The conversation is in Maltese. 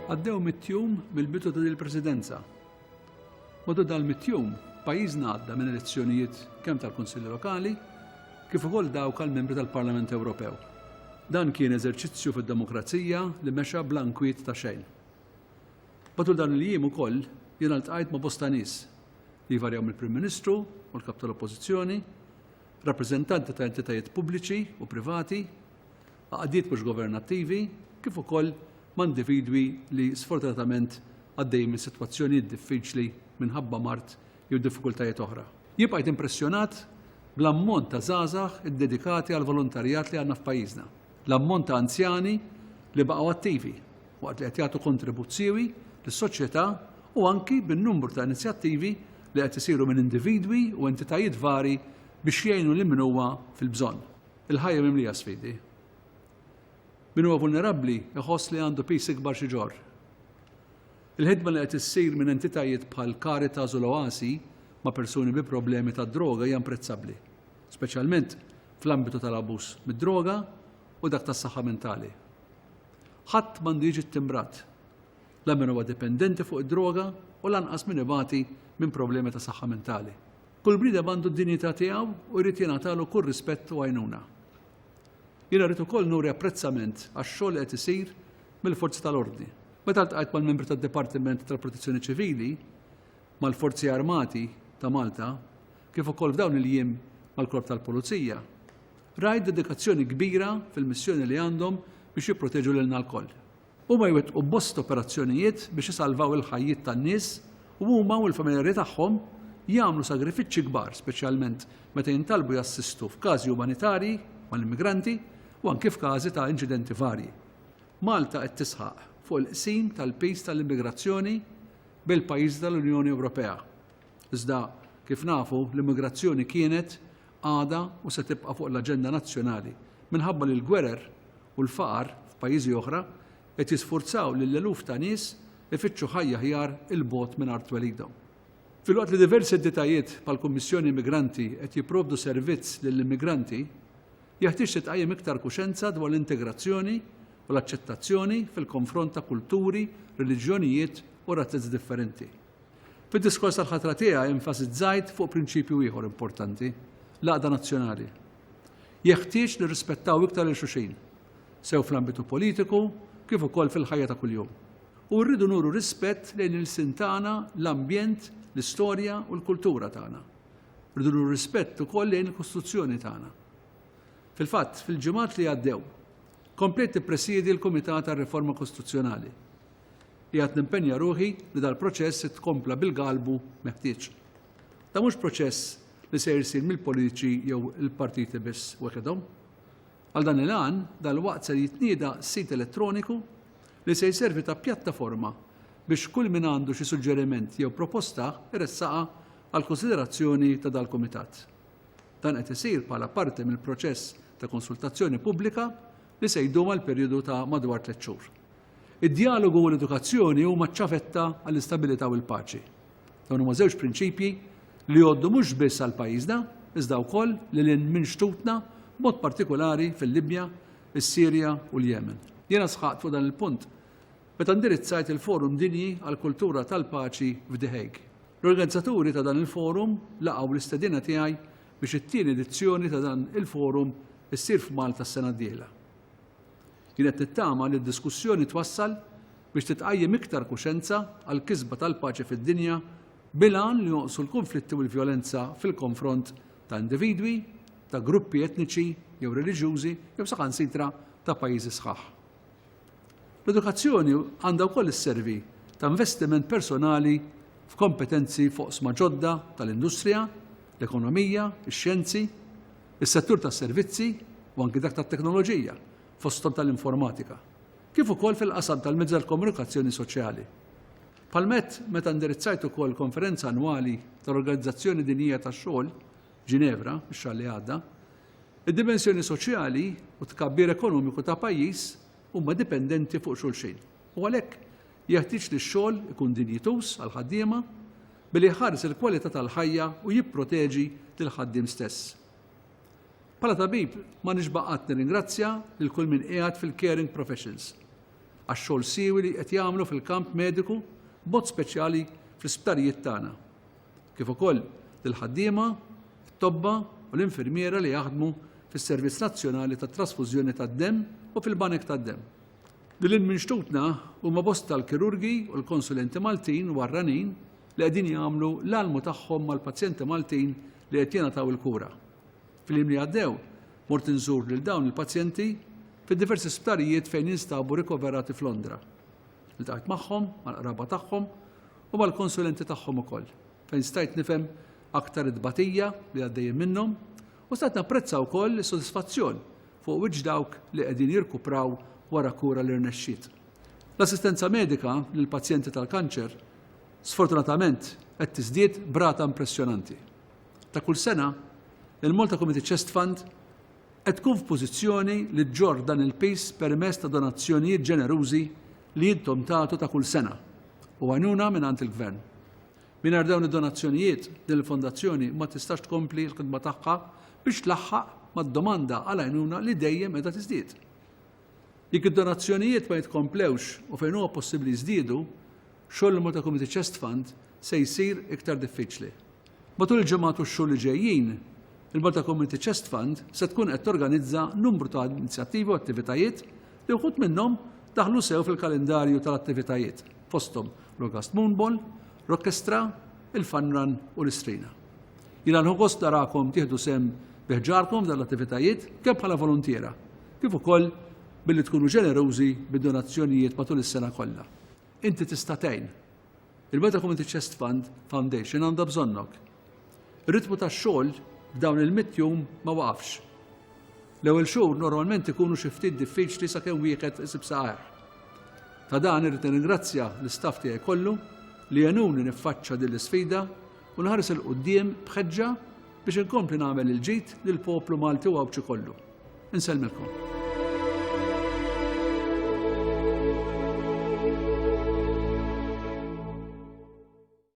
Għaddew mit-tjum mill-bidu ta' il-presidenza. Madu dal mit-tjum, pajjiżna għadda minn elezzjonijiet kemm tal-Kunsilli Lokali kif ukoll dawk għal membri tal-Parlament Ewropew. Dan kien eżerċizzju fid-demokrazija li mexa bl-ankwiet ta' xejn. Matul dawn il-jiem ukoll jiena ltqajt ma' bosta nies li jvarjaw mill-Prim Ministru u l-Kap tal-Oppożizzjoni, rappreżentanti ta' entitajiet pubbliċi u privati, għaqdiet mhux governattivi kif ukoll ma' individwi li sfortunatament għaddejjin minn sitwazzjonijiet diffiċli minħabba mard jew diffikultajiet oħra. Jien bqajt impressjonat bl-ammont ta' żgħażagħ iddedikati għall-volontarjat li għandna f'pajjiżna. L-ammont ta' anzjani li baqgħu attivi waqt li qed jagħtu kontribut siewi lis-soċjetà u anki bin-numru ta' inizjattivi li qed isiru minn individwi u entitajiet vari biex jgħinu lil min huwa fil-bżonn. Il-ħajja mimlija sfidi. Min huwa vulnerabbli iħoss li għandu piż ikbar xi ġorr. Il-ħidma li qed issir minn entitajiet bħal Caritas u l-Oasi ma' persuni bi problemi tad-droga hija imprezzabbli. speċjalment fl-ambitu tal-abbuż mid-droga u dak tas-saħħa mentali. Ħadd m'għandu jiġi ttimbrat, la min huwa dipendenti fuq id-droga u lanqas min ibati minn problemi ta' saħħa mentali. Kull bniedem għandu d-dinjità tiegħu u jrid jingħatalu kull rispett u għajnuna. Jiena rrid ukoll nuri apprezzament għax-xogħol li qed isir mill-forzi tal-ordni. Meta ltqajt mal-membri tad-Dipartiment tal-Protezzjoni Ċivili, mal-Forzi Armati ta' Malta, kif ukoll f'dawn il-jiem mal-Korp tal-Pulizija, rajt dedikazzjoni kbira fil-missjoni li għandhom biex jipproteġu lilna lkoll. Huma jwettqu bosta operazzjonijiet biex isalvaw il-ħajjiet tan-nies u huma u l-familjari tagħhom jagħmlu sagrifiċċji kbar speċjalment meta jintalbu jassistu f'każi umanitarji mal-immigranti u anki f'każi ta' inċidenti varji. Malta qed tisħaq fuq il-qsim tal-piż tal-immigrazzjoni bejn il-pajjiżi tal-Unjoni Ewropea. Iżda, kif nafu, l-immigrazzjoni kienet, għadha u se tibqa' fuq l-aġenda nazzjonali minħabba li l-gwerer u l-faqar f'pajjiżi oħra qed jisfurzaw lil eluf ta' nies ifittxu ħajja aħjar 'il bogħod minn art twelidhom. Filwaqt li diversi entitajiet bħall-Kummissjoni Immigranti qed jipprovdu servizz lill-immigranti, jeħtieġ titqajjem iktar kuxenza dwar l-integrazzjoni u l-aċċettazzjoni fil-konfront ta' kulturi, reliġjonijiet u razzizz differenti. Fid-diskors tal-ħatra tiegħi enfasizzajt fuq prinċipju ieħor importanti, l-għaqda nazzjonali. Jeħtieġ nirrispettaw iktar lil xulxin, sew fl-ambitu politiku kif ukoll fil-ħajja ta' kuljum. U rridu nuru rispett lejn il-sin tagħna, l-ambjent, l-istorja u l-kultura tagħna. Rridu nuru rispett ukoll lejn il-Kostituzzjoni tagħna. Fil-fatt, fil-ġimgħat li għaddew, komplejt tippresjedi l-Kumitat għar-Riforma Kostituzzjonali Qiegħed nimpenja ruħi li dal-proċess jitkompla bil-galbu meħtieġ. Dan mhux proċess li ser isir mill-politiċi jew il-partiti biss weħidhom. Għal dan il-għan, dalwaqt ser jitnieda sit elettroniku li se jservi ta' pjattaforma biex kull min għandu xi suġġeriment jew proposta jressaqha għall-kunsiderazzjoni ta' dal-Kumitat. Dan qed isir bħala parti mill-proċess ta' konsultazzjoni pubblika li se jdum għal perjodu ta' madwar tliet xhur. Id-djalogu u l-edukazzjoni huma ċ-ċavetta għall-istabilità u l-paċi. Dawn huma żewġ prinċipji li jgħoddu mhux biss għal pajjiżna, iżda wkoll lil hinn minn xtutna, b'mod partikulari fil-Libja, is-Sirja u l-Jemen. Jiena sħaqt fuq dan il-punt meta indirizzajt il-Forum Dinji għall-Kultura tal-Paċi f'The Hague. L-organizzaturi ta' dan il-forum laqgħu l-istedina tiegħi biex it-tieni edizzjoni ta' dan il-forum issir f'Malta s-sena d-dieħla. Kienet tittama li d-diskussjoni twassal biex titqajjem iktar kuxenza għall-kisba tal-paċi fid-dinja bil-għan li jonqsu l-kunflitti u l-vjolenza fil-konfront ta' individwi, ta' gruppi etniċi jew reliġjużi jew saħansitra ta' pajjiżi sħaħ. L-edukazzjoni għandha wkoll isservi ta' investiment personali f'kompetenzi f'oqsma ġodda tal-industrija, l-ekonomija, ix-xjenzi, is-settur tas-servizzi u anki dak tat-teknoloġija, fosthom tal-informatika, kif ukoll fil-qasam tal-mezzi tal-komunikazzjoni soċjali. Bħal met meta indirizzajt ukoll konferenza annwali tal-Organizzazzjoni Dinjija tax-Xogħol, Ġinevra, ix-xahar li għadda, id-dimensjoni soċjali u t-tkabbir ekonomiku ta' pajjiż huma dipendenti fuq xulxin u għalhekk Jeħtieġ li x-xogħol ikun dinjituż għall-ħaddiema billi jħares il-kwalità tal-ħajja u jipproteġi lill-ħaddiem stess. Bħala tabib ma nixba' qatt nirringrazzja lil kull min qiegħed fil-caring professions għax-xogħol siewi li qed jagħmlu fil-kamp mediku b'mod speċjali fl-isptarijiet tagħna. Kif ukoll lill-ħaddiema, it-tobba u l-infirmiera li jaħdmu fis-Servizz Nazzjonali tat-Trasfużjoni tad-Demm u fil-Banek tad-Demm. Lil hinn minn xtutna huma bosta l-kirurgi u l-konsulenti Maltin u barranin li qegħdin jagħmlu l-almu tagħhom mal-pazjenti Maltin li qed jingħataw il-kura. Fil-jiem li għaddew, mort inżur lil dawn il-pazjenti fi diversi sptarijiet fejn jinstabu rikoverati f'Londra. Iltqajt magħhom, mal-qraba tagħhom u mal-konsulenti tagħhom ukoll, fejn stajt nifhem aktar it-tbatija li għaddejjin minnhom u stajt napprezza wkoll is-sodisfazzjon fuq wiċċ dawk li qegħdin jirkupraw wara kura li rnexxiet. L-assistenza medika lill-pazjenti tal-kanċer sfortunatament qed tiżdied b'rata impressjonanti. Ta' kull sena, il-Malta Community Chest Fund qed tkun f'pożizzjoni li ġġorr dan il-piż permezz ta' donazzjonijiet ġenerużi li intom tagħtu ta' kull sena u għajnuna mingħand il-Gvern. Mingħajr dawn id-donazzjonijiet, din il-fondazzjoni ma tistax tkompli l-ħidma tagħha biex tlaħħaq mad-domanda għal għajnuna li dejjem qiegħda tiżdied. Jekk id-donazzjonijiet ma jitkomplewx u fejn huwa possibbli jiżdiedu, xogħol il-Malta Community Chest Fund se jsir iktar diffiċli. Matul il-ġimgħat u x-xhur li ġejjin, il-Malta Community Chest Fund se tkun qed torganizza numru ta' inizjattivi u attivitajiet li wħud minnhom daħlu sew fil-kalendarju tal-attivitajiet. fosthom l-August Moon Ball, Rockestra, il-Fun Run u l-Istrina. Jiena nħu gost narakom tieħdu sehem bi ħġarkom f'dan l-attivitajiet kemm bħala voluntiera kif ukoll billi tkunu ġenerużi bid-donazzjonijiet matul is-sena kollha. Inti tista' tgħin! Il-Malta Community Chest Fund Foundation għandha bżonnok! Ir-ritmu tax-xogħol f'dawn il-mitt jum ma waqafx. L-ewwel xhur normalment ikunu xi ftit diffiċli sakemm wieħed isib saqajh. Ta' dan irrid nirringrazzja l-istaff tiegħi kollu li għenuni niffaċċa din l-isfida u nħares il quddiem b'ħeġġa biex inkompli nagħmel il-ġid lill-poplu Malti u Għawdxi kollu. Insellmilkom.